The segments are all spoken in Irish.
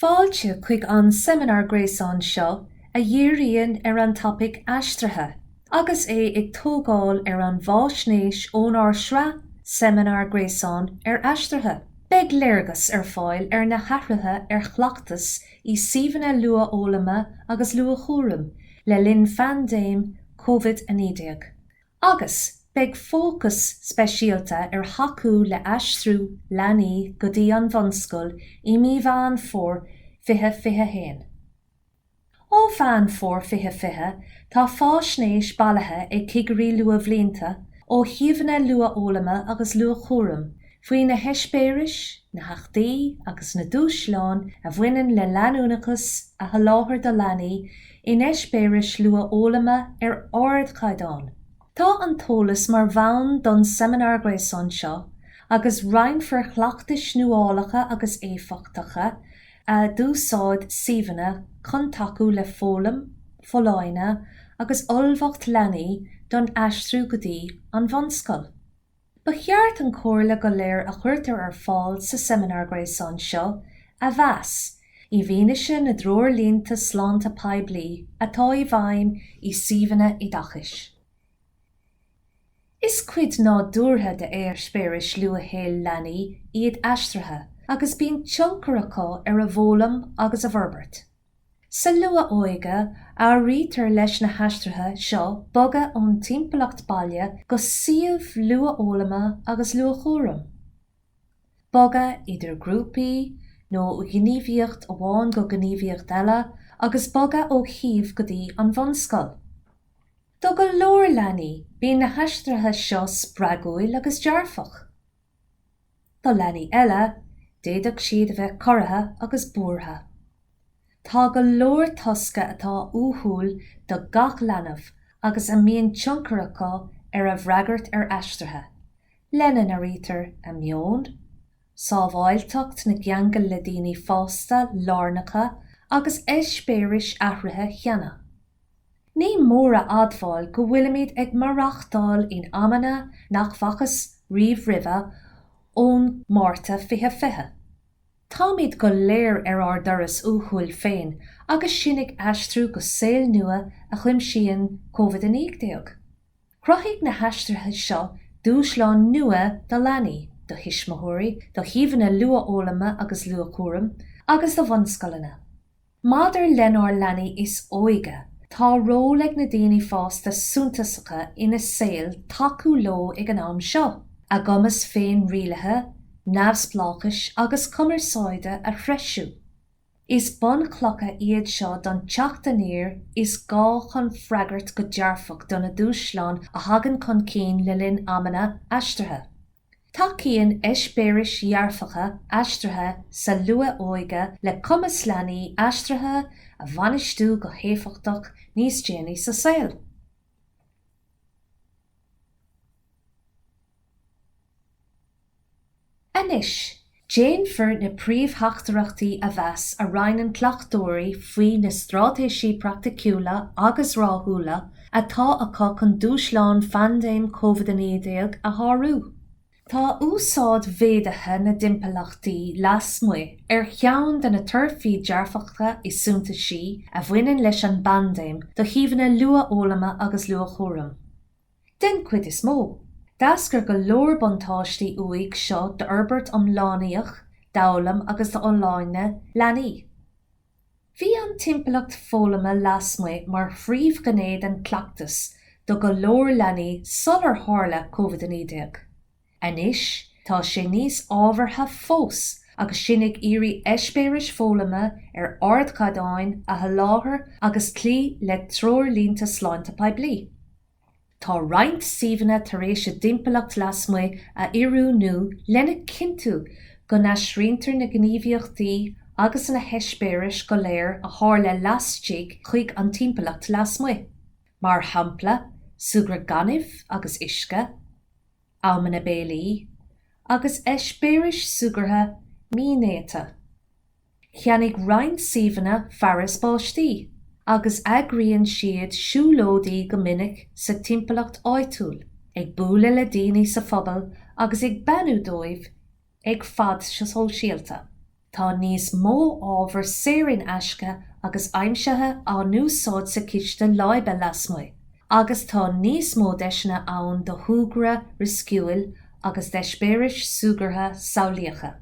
Fáilte chuig an seimineár gréasáin seo a dhíríonn ar an topaic Aistrithe. Agus é ag tógáil ar an bhfaisnéis ónár sraith seimineár gréasáin ar aistrithe, beidh léargas ar fáil ar na hathruithe ar chleachtas i suíomhanna luathfhoghlama agus luathchúraim le linn phaindéim COVID-19, agus beidh fócas speisialta ar thacú le haistriú leanaí go dtí an bhunscoil i mí Mheán Fómhair 2021. Ó Mheán Fómhair 2020, tá faisnéis bailithe ag cigirí luathbhlianta ó shuíomhanna luathfhoghlama agus luathchúraim faoi na heispéiris, na héachtaí agus na dúshláin a bhaineann le leanúnachas a sholáthar do leanaí in eispéiris luathfhoghlama ar ardchaighdeán. Tá an t-eolas mar bhonn don seimineár gréasáin seo agus roinnfear cleachtais nuálacha agus éifeachtacha a d'úsáid suíomhanna chun tacú le foghlaim, folláine agus ullmhacht leanaí don aistriú go dtí an bhunscoil. Ba cheart an chomhairle go léir a chuirtear ar fáil sa seimineár gréasáin seo a mheas i bhfianaise na dtreoirlínte sláinte poiblí atá i bhfeidhm i suíomhanna oideachais. Is cuid nádúrtha d'eispéiris luathshaoil leanaí iad aistrithe agus bíonn tionchar acu ar a bhfoghlaim agus a bhforbairt. Sa luath-óige, áirítear leis na haistrithe seo bogadh ón timpeallacht baile go suíomh luathfhoghlama agus luathchúraim, bogadh idir grúpaí nó ó ghníomhaíocht amháin go gníomhaíocht eile, agus bogadh ó shuíomh go dtí an bhunscoil. Do go leor leanaí, bíonn na haistrithe seo spreagúil agus dearfach. Do leanaí eile, d'fhéadfadh siad a bheith corraithe agus buartha. Tá go leor tosca atá uathúil do gach leanbh agus a mbíonn tionchar acu ar a bhfreagairt ar aistrithe, lena n-airítear a meon, sábháilteacht na gceangal le daoine fásta lárnacha agus eispéiris athraithe cheana. Ní mór a admháil go bhfuilimid ag maireachtáil in amanna nach bhfacthas riamh roimhe ón Márta 2020. Táimid go léir ar ár dturas uathúil féin agus sinn ag aistriú go saol nua a chuimsíonn Covid-19. Chruthaigh na haistrithe seo dúshláin nua do leanaí, do thuismitheoirí, do shuíomhanna luathfhoghlama agus luathchúraim, agus do bhunscoileanna. Maidir lenár leanaí is óige, tá ról ag na daoine fásta suntasacha ina saol tacú leo ag an am seo, a gcumas féinrialaithe, neamhspleáchais agus cumarsáide a threisiú. Is bunchlocha iad seo don teacht aniar is gá chun freagairt go dearfach do na dúshláin a thagann chun cinn le linn amanna aistrithe. Tacaíonn eispéiris dhearfacha aistrithe sa luath-óige le cumas leanaí aistrithe a bhainistiú go héifeachtach níos déanaí sa saol. Anois, Déanfar na príomhtheachtaireachtaí a mheas a roinneann cleachtóirí faoi na straitéisí praiticiúla agus rathúla atá acu chun dúshlán phaindéim COVID-19 a shárú. Tá úsáid mhéadaithe na dtimpeallachtaí lasmuigh ar cheann de na torthaí dearfacha is suntaisí a bhaineann leis an bpaindéim do shuíomhanna luathfhoghlama agus luathchúraim. Den chuid is mó, d'eascair go leor buntáistí uaidh seo d'fhorbairt iomlánaíoch, d'fhoghlaim agus d'fholláine leanaí. Bhí an timpeallacht foghlama lasmuigh mar phríomhghné den chleachtas do go leor leanaí sular tharla COVID-19. Anois tá sé níos ábhartha fós agus sinn ag iarraidh eispéiris foghlama ar ardchaighdeán a sholáthar agus cloí le treoirlínte sláinte poiblí. Tá roinnt suíomhanna tar éis a dtimpeallacht lasmuigh a oiriúnú lena chinntiú go n-aistrítear na gníomhaíochtaí agus na heispéiris go léir a tharla laistigh chuig an timpeallacht lasmuigh, mar shampla súgradh gainimh agus uisce. amanna béilí agus eispéiris súgartha mínéata. Cheannaigh roinnt suíomhanna fearas báistí agus eagraíonn siad siúlóidí go minic sa timpeallacht áitiúil, ag bualadh le daoine sa phobal agus ag beannú dóibh ag fad sóisialta, tá níos mó ábhar saor in aisce agus aimsithe á n-úsáid sa chistin láibe lasmuigh, agus tá níos mó deiseanna ann do shúgradh riosciúil agus d'eispéiris súgartha samhlaíocha.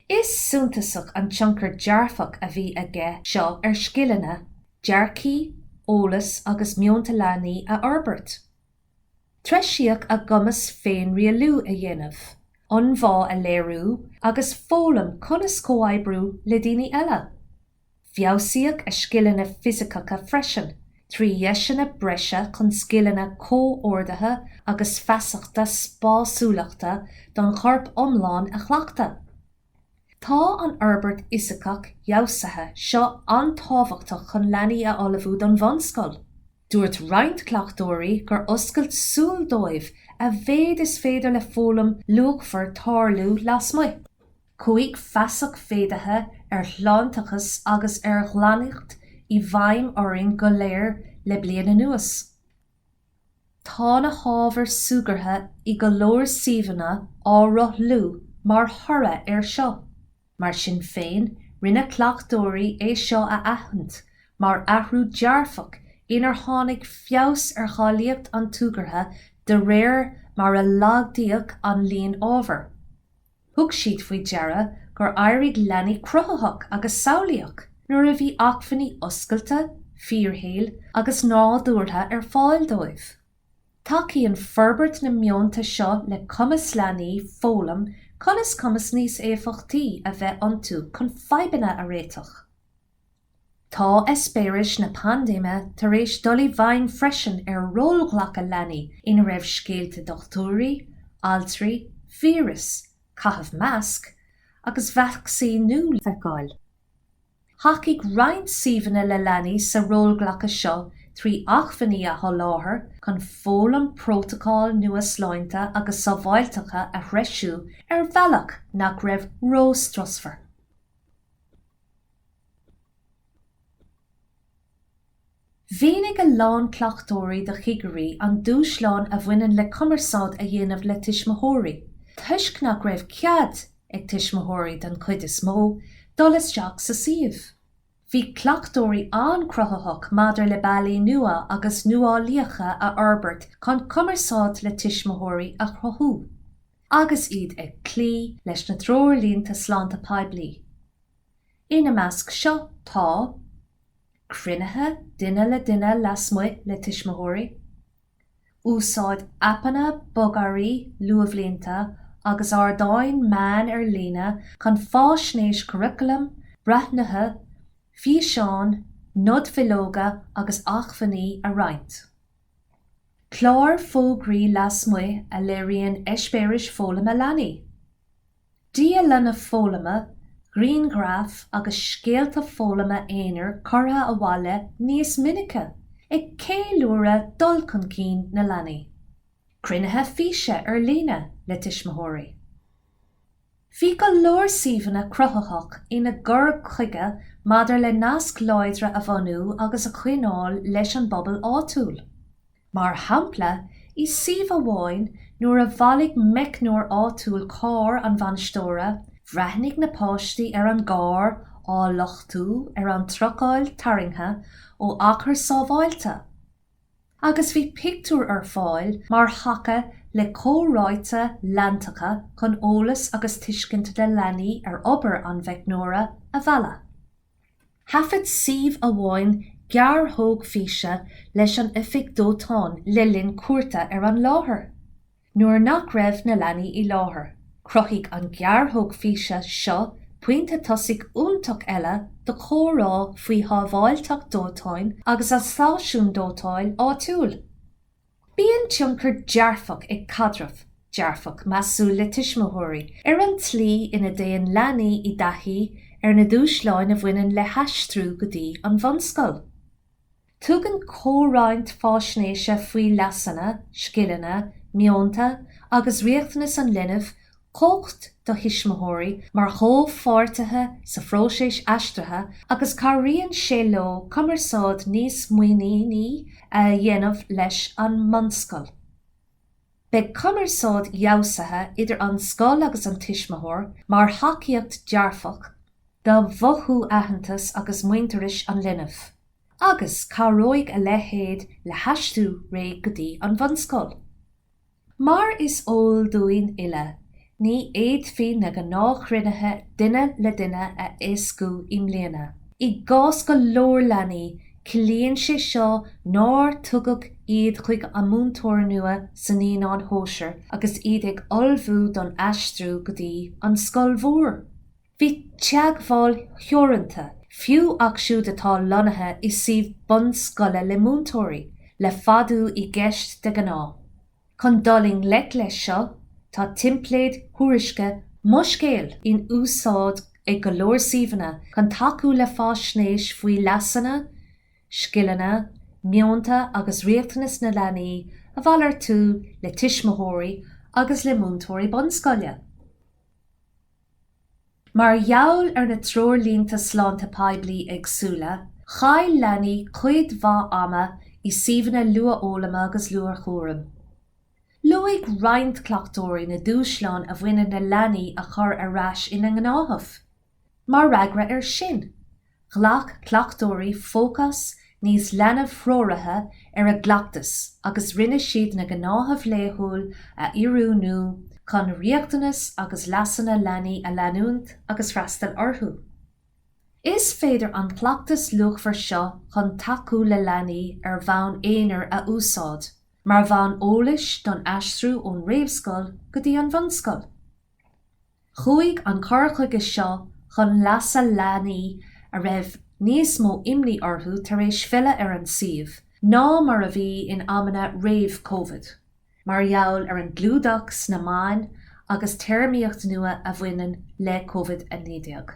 Is suntasach an tionchar dearfach a bhí aige seo ar scileanna, dearcthaí, eolas agus meonta leanaí a fhorbairt. Treisíodh a gcumas féinrialú a dhéanamh, ionbhá a léiriú agus foghlaim conas comhoibriú le daoine eile. Feabhsaíodh a scileanna fisiceacha freisin, trí dheiseanna breise chun scileanna comhordaithe agus feasachta spásúlachta don chorp iomlán a chleachtadh. Tá an fhorbairt fhisiceach fheabhsaithe seo an-tábhachtach chun leanaí a ullmhú don bhunscoil. Dúirt roinnt cleachtóirí gur oscailt súl dóibh a mhéid is féidir le foghlaim luachmhar tarlú lasmuigh. Chuaigh feasacht mhéadaithe ar shláinteachas agus ar ghlaineacht i bhfeidhm orainn go léir le bliain anuas. Tá na hábhair súgartha i go leor suíomhanna á rothlú mar thoradh air seo. Mar sin féin, rinne cleachtóirí é seo a aithint mar athrú dearfach inar tháinig feabhas ar cháilíocht an tsúgartha de réir mar a laghdaíodh an líon ábhar. Thug siad faoi deara gur éirigh leanaí cruthaitheach agus samhlaíoch nuair a bhí acmhainní oscailte, fíorshaoil agus nádúrtha ar fáil dóibh. Tacaíonn forbairt na meonta seo le cumas leanaí foghlaim conas cumas níos éifeachtaí a bheith iontu chun fadhbanna a réiteach. Tá eispéiris na paindéime tar éis dul i bhfeidhm freisin ar rólghlacadh leanaí ina raibh scéalta dochtúirí, altraí, víreas, caitheamh masc agus vacsaíniú le feiceáil. Thacaigh roinnt suíomhanna le leanaí sa rólghlacadh seo trí acmhainní a sholáthar chun foghlaim prótacail nua sláinte agus sábháilteacha a threisiú ar bhealach nach raibh róstrusmhar. Mhínigh a lán cleachtóirí do chigirí an dúshlán a bhaineann le cumarsáid a dhéanamh le tuismitheoirí, toisc nach raibh cead ag tuismitheoirí, den chuid is mó, dul isteach sa suíomh. Bhí cleachtóirí an-chruthaitheach maidir le bealaí nua agus nuálaíocha a fhorbairt chun cumarsáid le tuismitheoirí a chruthú, agus iad ag cloí leis na Treoirlínte Sláinte Poiblí. Ina measc seo tá. cruinnithe duine le duine lasmuigh le tuismitheoirí, úsáid aipeanna bogearraí luathbhlianta agus ardáin meán ar líne chun fáisnéis curaclaim, breathnuithe, físeáin, nodbhileoga agus acmhainní a roinnt. Cláir fógraí lasmuigh a léiríonn eispéiris foghlama leanaí. Dialanna foghlama, grianghraif agus scéalta foghlama aonair curtha abhaile níos minice, ag ceiliúradh dul chun cinn na leanaí. Cruinnithe físe ar líne le tuismitheoirí. Bhí go leor suíomhanna cruthaitheach ina gcur chuige maidir le naisc láidre a bhunú agus a choinneáil leis an bpobal áitiúil. Mar shampla, i suíomh amháin nuair a bhailigh meicneoir áitiúil carr an bhainisteora, bhreathnaigh na páistí ar an gcarr á luchtú ar an trucail tarraingthe ó achar sábháilte agus bhí pictiúr ar fáil mar thaca le comhráite leantacha chun eolas agus tuiscint na leanaí ar obair an mheicneora a mhealladh. Thaifead suíomh amháin gearrthóg físe leis an oifig dóiteáin le linn cuairte ar an láthair. Nuair nach raibh na leanaí i láthair, chruthaigh an ghearrthóg físe seo pointe tosaigh iontach eile do chomhrá faoi shábháilteacht dóiteáin agus an stáisiún dóiteáin áitiúil. Bíonn tionchar dearfach ag caidreamh dearfach, measúil le tuismitheoirí ar an tslí ina dtéann leanaí i dtaithí ar na dúshláin a bhaineann le haistriú go dtí an bhunscoil. Tugann comhroinnt faisnéise faoi leasanna, scileanna, meonta agus riachtanais an linbh cumhacht do thuismitheoirí mar chomhpháirtithe sa phróiseas aistrithe agus cabhraíonn sé leo cumarsáid níos muiníní a dhéanamh leis an mbunscoil. Beidh cumarsáid fheabhsaithe idir an scoil agus an tuismitheoir mar thacaíocht dearfach do mhothú aitheantais agus muintearais an linbh, agus cabhróidh a leithéid le haistriú réidh go dtí an bhunscoil. Mar is eol dúinn uile, ní fhéadfaí na gnáthchruinnithe duine le duine a éascú i mbliana. I gcás go leor leanaí, ciallaíonn sé seo nár tugadh iad chuig an múinteoir nua sna naíonáin shóisir agus iad ag ullmhú don aistriú go dtí an scoil mhór. Bhí teagmháil theoranta, fiú acu siúd atá lonnaithe i suíomh bunscoile le múinteoirí, le fadú i gceist de ghnáth. Chun dul i ngleic leis seo, tá teimpléid thuairisce Mo Scéal in úsáid ag go leor suíomhanna chun tacú le faisnéis faoi leasanna, scileanna, meonta agus riachtanais na leanaí a mhalartú le tuismitheoirí agus le múinteoirí bunscoile. Mar gheall ar na treoirlínte sláinte poiblí éagsúla, chaill leanaí cuid mhaith ama i suíomhanna luathfhoghlama agus luathchúraim. Luaigh roinnt cleachtóirí na dúshláin a bhaineann le leanaí a chur ar ais ina ngnáthamh. Mar fhreagra air sin, Ghlac cleachtóirí fócas níos leanbh-threoraithe ar a gcleachtas agus rinne siad na gnáthaimh laethúla a oiriúnú chun riachtanais agus leasanna leanaí a leanúint agus freastal orthu. Is féidir an cleachtas luachmhar seo chun tacú le leanaí ar bhonn aonair a úsáid mar bhonn eolais don aistriú ón réamhscoil go dtí an bhunscoil. Chuaigh an cur chuige seo chun leasa leanaí a raibh níos mó imní orthu tar éis filleadh ar an suíomh ná mar a bhí in amanna réamh-Covid, mar gheall ar an gclúdach sna meáin agus téarmaíocht nua a bhaineann le Covid-19.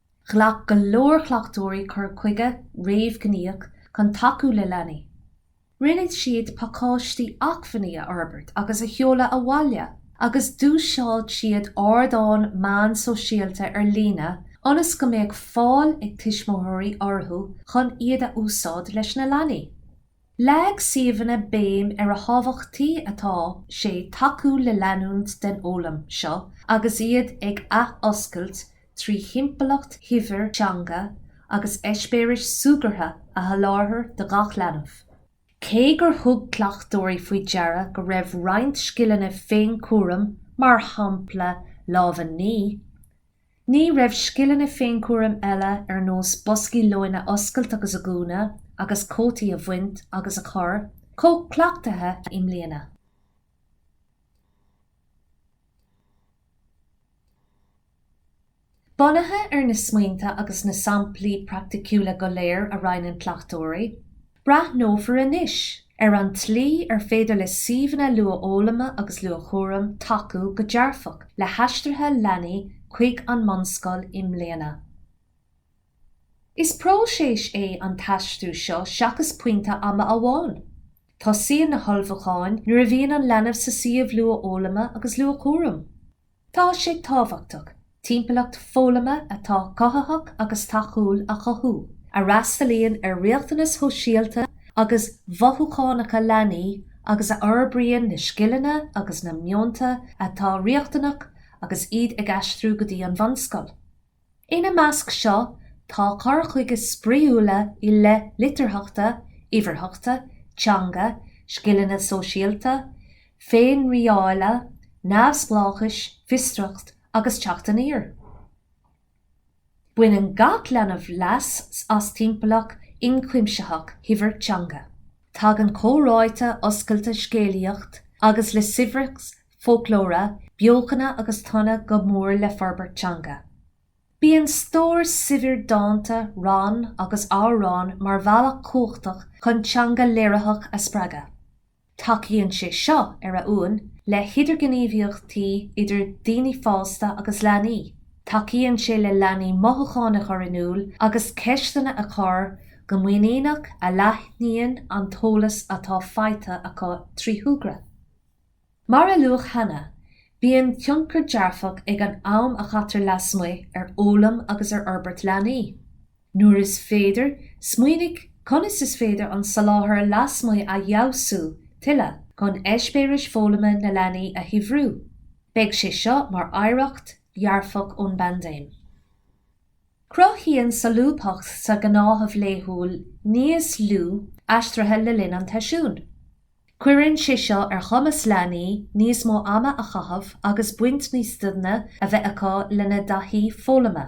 Ghlac go leor cleachtóirí cur chuige réamhghníomhach chun tacú le leanaí. Rinne siad pacáistí acmhainní a fhorbairt agus a sheoladh abhaile agus d'úsáid siad ardáin meán sóisialta ar líne ionas go mbeadh fáil ag tuismitheoirí orthu chun iad a úsáid leis na leanaí. Leag suíomhanna béim ar a thábhachtaí atá sé tacú le leanúint den fhoghlaim seo agus iad ag athoscailt trí thimpeallacht shaibhir teanga agus eispéiris súgartha a sholáthar do gach leanbh. Cé gur thug cleachtóirí faoi deara go raibh roinnt scileanna féinchúraim, mar shampla lámha a ní, Ní raibh scileanna féinchúraim eile ar nós boscaí lóin a oscailt agus a dhúnadh agus cótaí a bhaint agus a chur, chomh cleachtaithe i mbliana. Bunaithe ar na smaointe agus na samplaí praiticiúla go léir a roinneann cleachtóirí, Breathnófar anois ar an tslí ar féidir le suíomhanna luathfhoghlama agus luathchúraim tacú go dearfach le haistrithe leanaí chuig an mbunscoil i mbliana. Is próiseas é an t-aistriú seo seachas pointe ama amháin. Tosaíonn na hullmhúcháin nuair a bhíonn an leanbh sa suíomh luathfhoghlama agus luathchúraim. Tá sé tábhachtach timpeallacht foghlama atá cothaitheach agus tacúil a chothú, a fhreastalaíonn ar riachtanais shóisialta agus mhothúchánacha leanaí agus a fhorbraíonn na scileanna agus na meonta atá riachtanach agus iad ag aistriú go dtí an bhunscoil. Ina measc seo tá cur chuige spraíúil i leith litearthachta, uimhearthachta, teanga, scileanna sóisialta, féinrialála, neamhspleáchais, fiosracht agus teacht aniar. Baineann gach leanbh leas as timpeallacht ionchuimsitheach shaibhir teanga. Tagann comhráite oscailte scéalaíocht agus le saibhreas foclóra, beochana agus tonna go mór le forbairt teanga. Bíonn stór saibhir dánta, rann agus amhrán mar bhealach cumhachtach chun teanga léiritheach a spreagadh. Tacaíonn sé seo, ar a uain, le hidirghníomhaíochtaí idir daoine fásta agus leanaí, tacaíonn sé le leanaí mothúcháin a chur in iúl agus ceisteanna a chur go muiníneach a leathnaíonn an t-eolas atá faighte acu trí shúgradh. Mar a luadh cheana, bíonn tionchar dearfach ag an am a chaitear lasmuigh ar fhoghlaim agus ar fhorbairt leanaí. Nuair is féidir, smaoinigh conas is féidir an soláthar lasmuigh a fheabhsú tuilleadh chun eispéiris foghlama na leanaí a shaibhriú. Beidh sé seo mar oidhreacht dhearfach ón bpaindéim. Cruthaíonn solúbthacht sa ghnáthamh laethúil níos lú aistrithe le linn an tseisiúin. Cuireann sé seo ar chumas leanaí níos mó ama a chaitheamh agus baint níos doimhne a bheith acu lena dtaithí foghlama.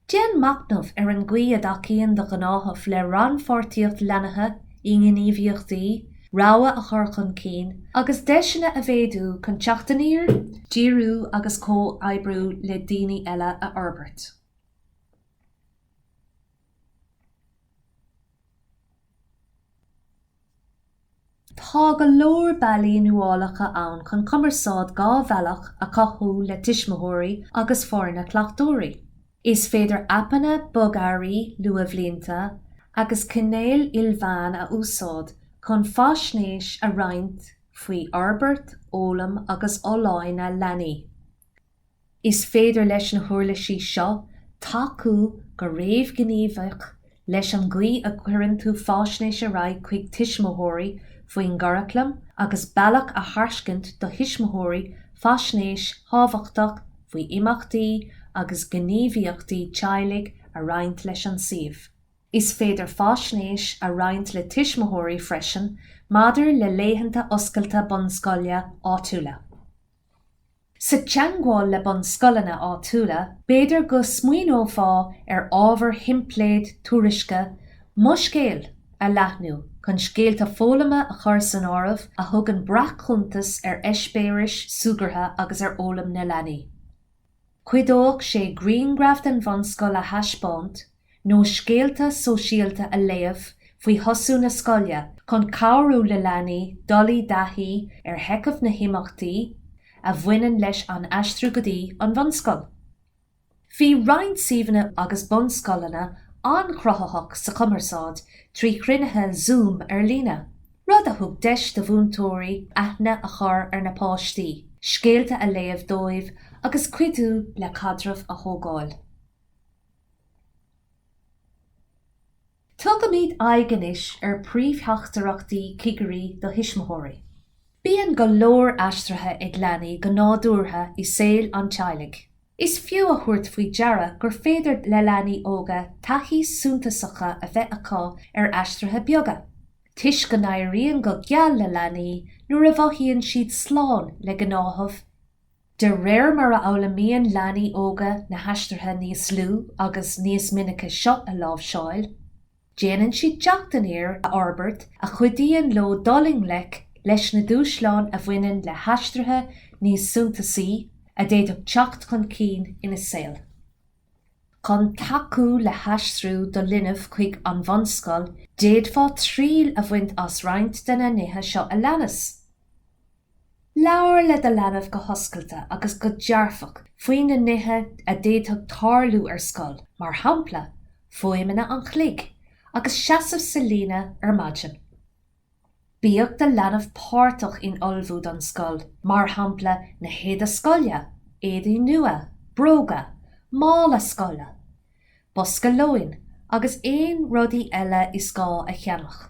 Déan machnamh ar an gcaoi a dtacaíonn do ghnáthamh le rannpháirtíocht leanaí i ngníomhaíochtaí rogha a chur chun cinn agus deiseanna a mhéadú chun teacht aniar, díriú agus comhoibriú le daoine eile a fhorbairt. Tá go leor bealaí nuálacha ann chun cumarsáid dhá bhealach a chothú le tuismitheoirí agus foirne cleachtóirí. Is féidir aipeanna bogearraí luathbhlianta agus cainéil ilmheán a úsáid chun faisnéis a roinnt faoi fhorbairt, fhoghlaim agus fholláine leanaí. Is féidir leis na huirlisí seo tacú go réamhghníomhach leis an gcaoi a gcuireann tú faisnéis ar aghaidh chuig tuismitheoirí faoin gcuraclam agus bealach a thairscint do thuismitheoirí faisnéis thábhachtach faoi imeachtaí agus gníomhaíochtaí teaghlaigh a roinnt leis an suíomh. Is féidir faisnéis a roinnt le tuismitheoirí freisin maidir le laethanta oscailte bunscoile áitiúla. Sa teangmháil le bunscoileanna áitiúla, b'fhéidir go smaoineofá ar ábhar theimpléad tuairisce Mo Scéal a leathnú chun scéalta foghlama a chur san áireamh a thugann breac-chuntas ar eispéiris súgartha agus ar fhoghlaim na leanaí. Chuideodh sé grianghraf den bhunscoil a thaispeáint nó scéalta sóisialta a léamh faoi thosú na scoile chun cabhrú le leanaí dul i dtaithí ar sheicheamh na himeachtaí a bhaineann leis an aistriú go dtí an bhunscoil. Bhí roinnt suíomhanna agus bunscoileanna an-chruthaitheach sa chumarsáid trí chruinnithe Zoom ar líne, rud a thug deis do mhúinteoirí aithne a chur ar na páistí, scéalta a léamh dóibh agus cuidiú le caidreamh a thógáil. Tugaimid aghaidh anois ar príomhtheachtaireachtaí cigirí do thuismitheoirí. Bíonn go leor aistrithe ag leanaí go nádúrtha i saol an teaghlaigh. Is fiú a thabhairt faoi deara gur féidir le leanaí óga taithí suntasacha a bheith acu ar aistrithe beaga, toisc go n-éiríonn go geal le leanaí nuair a mhothaíonn siad slán le gnáthamh De réir mar a fhoghlaimíonn leanaí óga na haistrithe níos lú agus níos minice seo a láimhseáil, Déanann siad teacht aniar a fhorbairt a chuidíonn leo dul i ngleic leis na dúshláin a bhaineann le haistrithe níos suntasaí a d'fhéadfadh teacht chun cinn ina saol. Chun tacú le haistriú do linbh chuig an bhunscoil, d'fhéadfá triail a bhaint as roinnt de na nithe seo a leanas. Labhair le do leanbh go hoscailte agus go dearfach faoi na nithe a d'fhéadfadh tarlú ar scoil, mar shampla, fuaimeanna an chloig agus seasamh sa líne ar maidin. Bíodh do leanbh páirteach in ullmhú don scoil, mar shampla, na héide scoile, éadaí nua, bróga, mála scoile, bosca lóin agus aon rudaí eile is gá a cheannach.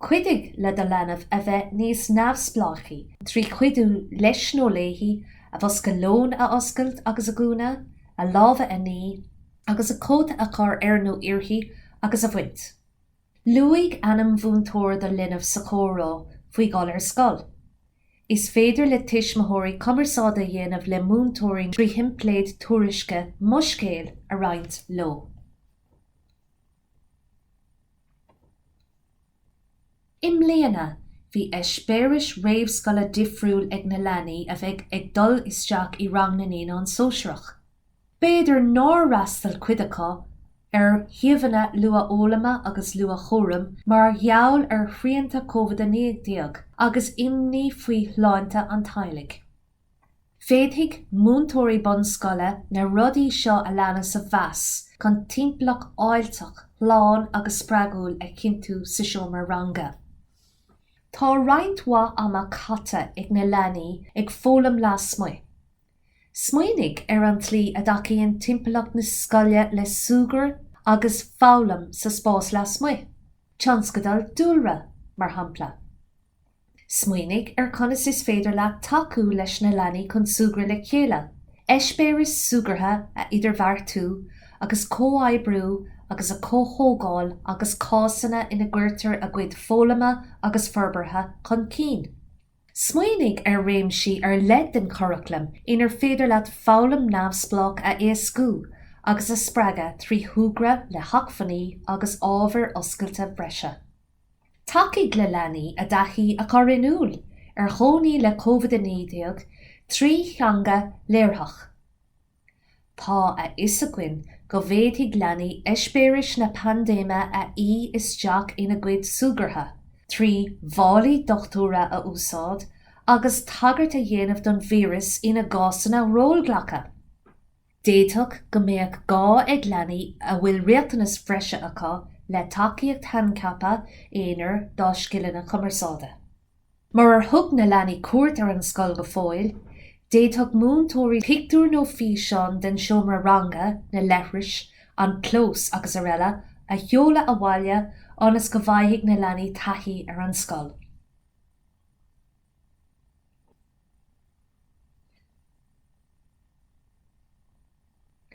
Cuidigh le do leanbh a bheith níos neamhspleáchaí trí chuidiú leis nó léi a bhosca lóin a oscailt agus a dhúnadh, a lámha a ní, agus a cóta a chur air nó uirthi agus a bhaint. Luaigh ainm mhúinteora do linbh sa chomhrá faoi dhul ar scoil. Is féidir le tuismitheoirí cumarsáid a dhéanamh le múinteoirí trí theimpléad tuairisce Mo Scéal a roinnt leo. I mbliana, bhí eispéiris réamhscoile difriúil ag na leanaí a bheidh ag dul isteach i rang na naíonán sóisearach. B'fhéidir nár fhreastail cuid acu ar shuíomhanna luathfhoghlama agus luathchúraim mar gheall ar shrianta COVID-19 agus imní faoi shláinte an teaghlaigh. Féadfaidh múinteoirí bunscoile na rudaí seo a leanas a mheas chun timpeallacht fháilteach, shlán agus spreagúil a chinntiú sa seomra ranga. Tá roinnt mhaith ama caite ag na leanaí ag foghlaim lasmuigh. Smaoinigh ar an tslí a dtacaíonn timpeallacht na scoile le súgradh agus foghlaim sa spás lasmuigh, tionscadail dúlra, mar shampla. Smaoinigh ar chonas is féidir leat tacú leis na leanaí chun súgradh le chéile, eispéiris súgartha a idirbheartú agus comhoibriú agus a chomhthógáil agus cásanna ina gcuirtear a gcuid foghlama agus forbartha chun cinn. Smaoinigh ar réimsí ar leith den churaclam inar féidir leat foghlaim neamhspleách a éascú agus a spreagadh trí shúgradh le hacmhainní agus ábhair oscailte breise. Tacaigh le leanaí a dtaithí a chur in iúl ar chónaí le Covid-19 trí theanga léiritheach. Tá a fhios againn go bhféadfaidh leanaí eispéiris na paindéime a fhí isteach ina gcuid súgartha trí mhálaí dochtúra a úsáid agus tagairt a dhéanamh don víreas ina gcásanna rólghlacaidh. D'fhéadfadh go mbeadh gá ag leanaí a bhfuil riachtanais bhreise acu le tacaíocht shaincheaptha aonair dá scileanna cumarsáide. Murar thug na leanaí cuairt ar an scoil go fóill, d'fhéadfadh múinteoirí pictiúir nó físeáin den seomra ranga, na leithris, an clós, srl. a sheoladh abhaile ionas go bhfaighidh na leanaí taithí ar an scoil.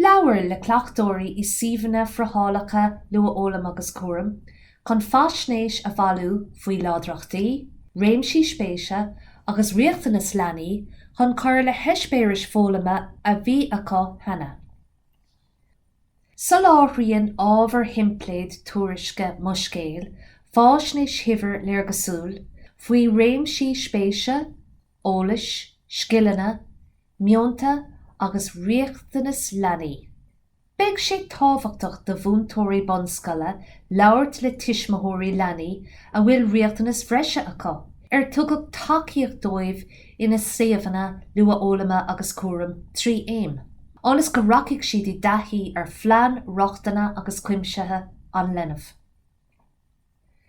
Labhair le cleachtóirí i suíomhanna friothálacha Luathfhoghlaim agus Cúraim chun faisnéis a bhailiú faoi láidreachtaí, réimsí spéise agus riachtanas leanaí chun cur le heispéiris foghlama a bhí acu cheana. Soláthraíonn ábhair theimpléad tuairisce Mo Scéal faisnéis shaibhir léargasúil faoi réimsí spéise, eolais, scileanna, meonta agus riachtanas leanaí. Beidh sé tábhachtach do mhúinteoirí bunscoile labhairt le tuismitheoirí leanaí a bhfuil riachtanas bhreise acu, ar tugadh tacaíocht dóibh ina suíomhanna luathfhoghlama agus cúraim trí aim. ionas go rachaidh siad i dtaithí ar Phlean Rochtana agus Cuimsithe an Linbh.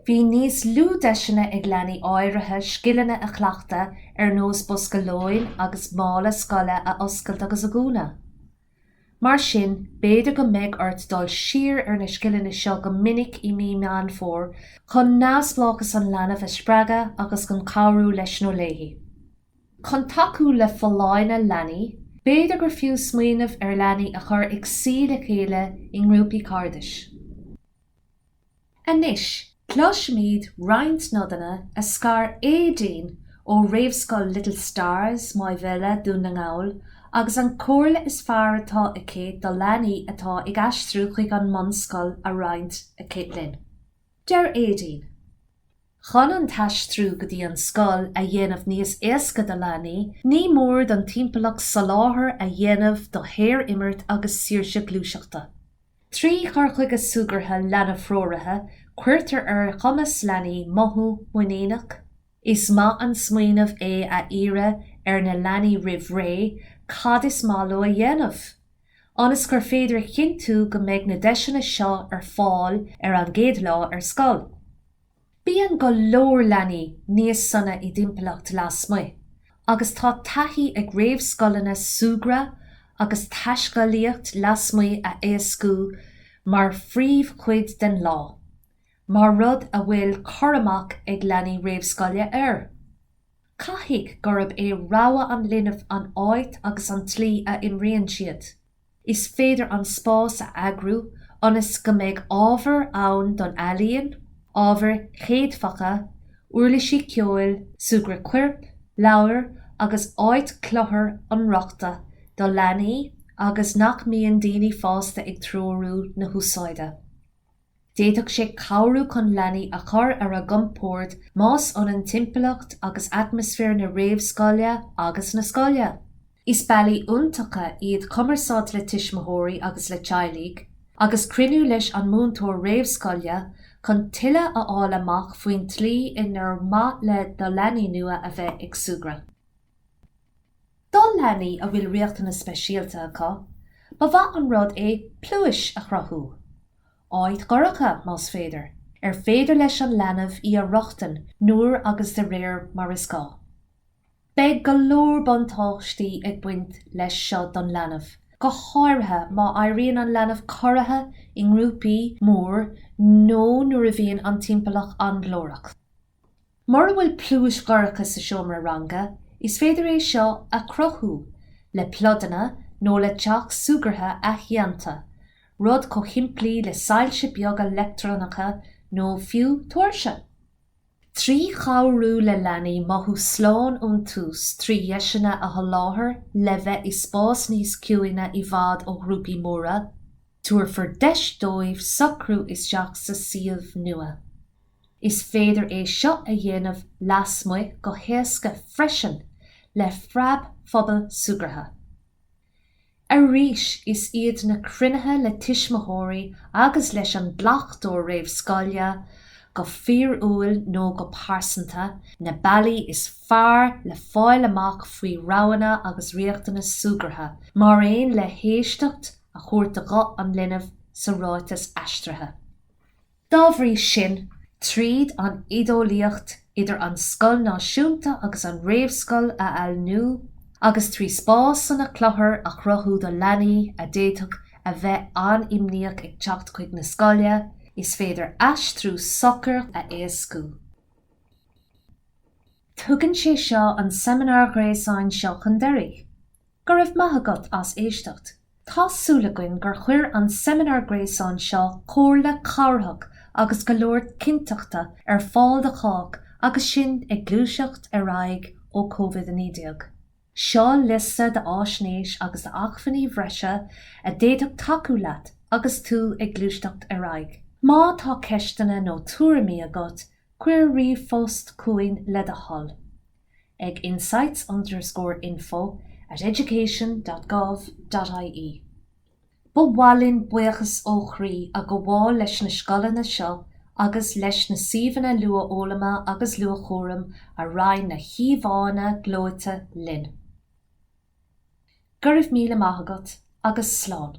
Bhí níos lú deiseanna ag leanaí áirithe scileanna a chleachtadh ar nós bosca lóin agus mála scoile a oscailt agus a dhúnadh. Mar sin, b'fhéidir go mbeidh ort dul siar ar na scileanna seo go minic i mí Meán Fómhair chun neamhspleáchas an leanbh a spreagadh agus chun cabhrú leis nó léi. Chun tacú le folláine leanaí, b'fhéidir gur fiú smaoineamh ar leanaí a chur ag suí le chéile i ngrúpaí cairdis. Anois, cloisfimid roinnt nodanna den scoth ó Aedín ó réamhscoil Little Stars, Maigh Bhéile, Dún na nGall, agus an chomhairle is fearr atá aici do leanaí atá ag aistriú chuig an mbunscoil á roinnt aici linn. Deir Aedín. Chun an t-aistriú go dtí an scoil a dhéanamh níos éasca do leanaí, ní mór don timpeallacht soláthar a dhéanamh do shaor-imirt agus saoirse gluaiseachta. Trí chur chuige súgartha leanbh-threoraithe, cuirtear ar chumas leanaí mothú muiníneach. Is maith an smaoineamh é a iarraidh ar na leanaí roimh ré cad is maith leo a dhéanamh, ionas gur féidir a chinntiú go mbeidh na deiseanna seo ar fáil ar an gcéad lá ar scoil. Bíonn go leor leanaí níos sona i dtimpeallacht lasmuigh agus tá taithí ag réamhscoileanna súgradh agus taiscéalaíocht lasmuigh a éascú mar phríomhchuid den lá, mar rud a bhfuil cur amach ag leanaí réamhscoile air. Caithfidh gurb é rogha an linbh an áit agus an tslí a imríonn siad. Is féidir an spás a eagrú ionas go mbeidh ábhar ann don ealaíon, ábhair chéadfacha, uirlisí ceoil, súgradh coirp, leabhair agus áit cluthar inrochtana do leanaí agus nach mbíonn daoine fásta ag treorú na húsáide. D'fhéadfadh sé cabhrú chun leanaí a chur ar a gcompord más ionann timpeallacht agus atmaisféar na réamhscoile agus na scoile. Is bealaí iontacha iad cumarsáid le tuismitheoirí agus le teaghlaigh, agus cruinniú leis an múinteoir réamhscoile, chun tuilleadh a fháil amach faoin tslí inar maith le do leanaí nua a bheith ag súgradh. Do leanaí a bhfuil riachtanais speisialta acu, ba mhaith an rud é pluais a chruthú, áit dhorcha, más féidir, ar féidir leis an leanbh í a rochtain nuair agus de réir mar is gá. Beidh go leor buntáistí ag baint leis seo don leanbh, go háirithe má éiríonn an leanbh corraithe i ngrúpaí mór nó nuair a bhíonn an timpeallacht an-ghlórach. Mura bhfuil pluais dhorcha sa seomra ranga, is féidir é seo a chruthú le pluideanna nó le teach súgartha athdhéanta, rud chomh shimplí le soilse beaga leictreonacha nó fiú tóirse. Trí chabhrú le leanaí mothú slán ón tús trí dheiseanna a sholáthar le bheith i spás níos ciúine i bhfad ó ghrúpaí móra, tabharfar deis dóibh socrú isteach sa suíomh nua. Is féidir é seo a dhéanamh lasmuigh go héasca freisin le phreabphuball Súgartha. Arís is iad na cruinnithe le tuismitheoirí agus leis an gcleachtóir réamhscoile, go fíorúil nó go pearsanta, na bealaí is fearr le fáil amach faoi roghanna agus riachtanais súgartha, mar aon le héisteacht a thabhairt do ghuth an linbh sa ráiteas aistrithe. Dá bhrí sin, tríd an oideolaíocht, idir an scoil náisiúnta agus an réamhscoil a ailíniú, agus trí spásanna cluthara a chruthú do leanaí a d'fhéadfadh a bheith an-imníoch ag teacht chuig na scoile, is féidir aistriú socair a éascú. Tugann sé seo an seimineár ghréasáin seo chun deiridh. Go raibh maith agat as éisteacht. Tá súil againn gur chuir an seimineár gréasáin seo comhairle cabhrach agus go leor cinnteachta ar fáil do chách agus sinn ag gluaiseacht ar aghaidh ó COVID-19. Seo liosta d'fháisnéis agus d'acmhainní bhreise a d'fhéadfadh tacú leat agus tú ag gluaiseacht ar aghaidh. Má tá ceisteanna nó tuairimí agat, cuir ríomhphost chugainn le do thoil. ag insights underscore info at education dot gov dot ie Ba mhaith linn buíochas ó chroí a ghabháil leis na scoileanna seo agus leis na suíomhanna luathfhoghlama agus luathchúraim a roinn na híomhánna gleoite linn. Go raibh míle maith agat agus slán!